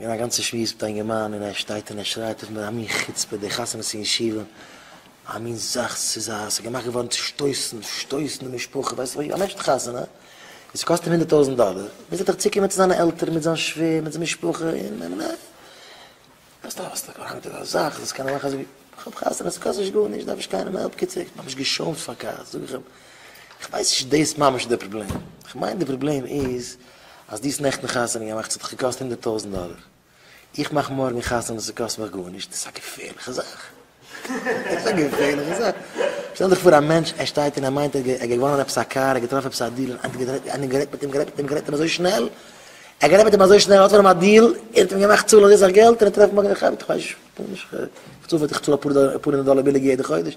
און א גאנצע שמועס מיט א אינגערמאן און ער שטייט און ער שרייט אויף מיט א מין חוצפה די חתונות אין ישיבה, א מין זאך ס'איז א ס'איז געמאכט געווארן צו שטויסן, שטויסן די משפחה, ווייסט ווי א מענטשן חתונה און ס'קאסט אים הונדערט טויזנט דאלער, מוז ער דאך צוקומען צו זיינע עלטערן מיט זיין שווער מיט זיין משפחה און און און. אז דו האסט א קאנטער אויף א זאך זאלסטו קענען מאכן אזוי ווי איך האב חתונה ס'קאסט נישט גארנישט דארף נישט קיינעם העלפ קיצור כ'האב ממש געשוימט פאר כעס זאג איך אים איך ווייס נישט צו דאס ממש איז דער פראבלעם איך מיין דער פראבלעם איז אז דו האסט נעכטן חתונה געמאכט ס'האט דיך געקאסט הונדערט טויזנט דאלער איך מאך מארגן חתונה ס'קאסט מיך גארנישט דאס איז א געפערליכע זאך. ס'איז א געפערליכע זאך. שטעל דיך פאר א מענטש, ער שטייט און ער מיינט ער האט געוואנען עפעס א קאר, ער האט געטראפן עפעס א דיל, און איינער האט גערעדט מיט אים, גערעדט מיט אים, גערעדט מיט אים, גערעדט מיט אים אזוי שנעל, ער האט גערעדט מיט אים אזוי שנעל, ער האט פון אים א דיל, ער האט אים געמאכט צאלן אזוי סאך געלט, און ער טרעפט מארגן איך האב, איך ווייס נישט, איך צאל אפאר הונדערט דאלער ביליגער יעדע חודש.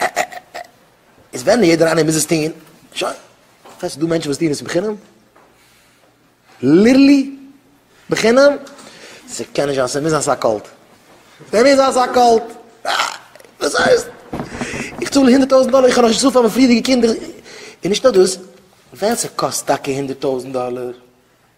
ע ע ע ע איז ווען יעדער איינער מוז עס טוהן, שוין, פארוואס איז דא מענטשן וואס טוהן עס בחינם? ליטערלי בחינם? ס'קען נישט זיין, ס'מוז זיין ס'איז א קולט. ס'מוז זיין ס'איז א קולט. וואס הייסט? איך צאל הונדערט טויזנט דאלער, איך האב נאך נישט געצאלט פאר מיין פריערדיגע קינדער. און נישט נאר דאס, ווען ס'קאסט טאקע הונדערט טויזנט דאלער,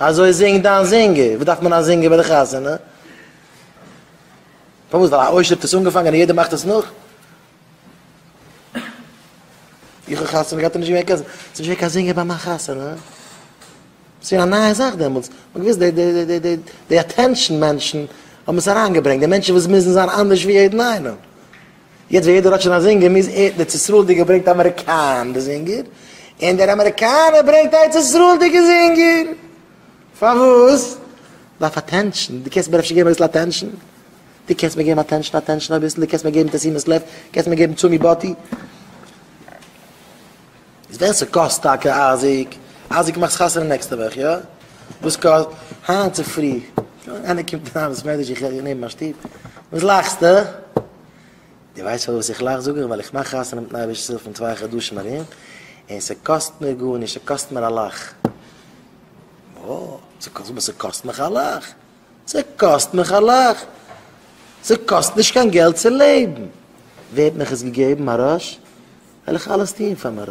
אזוי זינג דיין זינגער. וואס דארף מען א זינגער ביי די חתונה? פארוואס? ווייל א עושר האט עס אנגעפאנגען און יעדער מאכט עס נאך? איך האב חתונה געהאט און נישט געווען קיין זינגער. ס'איז נישט געווען קיין זינגער ביי מיין חתונה. ס'איז געווען א נייע זאך דעמאלטס. מ'האט געוואוסט די די די די די אטענשאן מענטשן האבן עס אריינגעברענגט. די מענטשן וואס מוזן זיין אנדערש ווי יעדן איינעם. יעצט ווען יעדער האט שוין א זינגער מוז ער דער צעסראלדיגער ברענגט אמעריקאנע זינגער און דער אמעריקאנער ברענגט ארץ ישראלדיגע זינגער פארוואס? דארף אטענשאן דו קענסט מיר אפשר געבן אביסל אטענשאן? דו קענסט מיר געבן אטענשאן אטענשאן אביסל דו קענסט מיר געבן תשימת לב? קענסט מיר געבן תשומי בתי? איז ווען ס'קאסט טאקע אייזיק, אייזיק מאכסט חתונה נעקסטע וואך יא? וואס קאסט? היינט צופרי איינער קומט אריין אין בית מדרש איך הער נעבן מיין שטוב, וואס לאכסטע? די ווייסט פארוואס איך לאך זאג איך ווייל איך מאך חתונה מיטן אייבערשטנ'ס הילף אין צוויי חדשים ארום, און ס'קאסט מיר גארנישט ס'קאסט מיר א לאך. וואס? ס'קאסט מיר ס'קאסט מיך א לאך? ס'קאסט מיך א לאך? ס'קאסט נישט קיין געלט צו לעבן! ווער האט מיך עס געגעבן? מרש? וועל איך אלעס טון פאר מרש.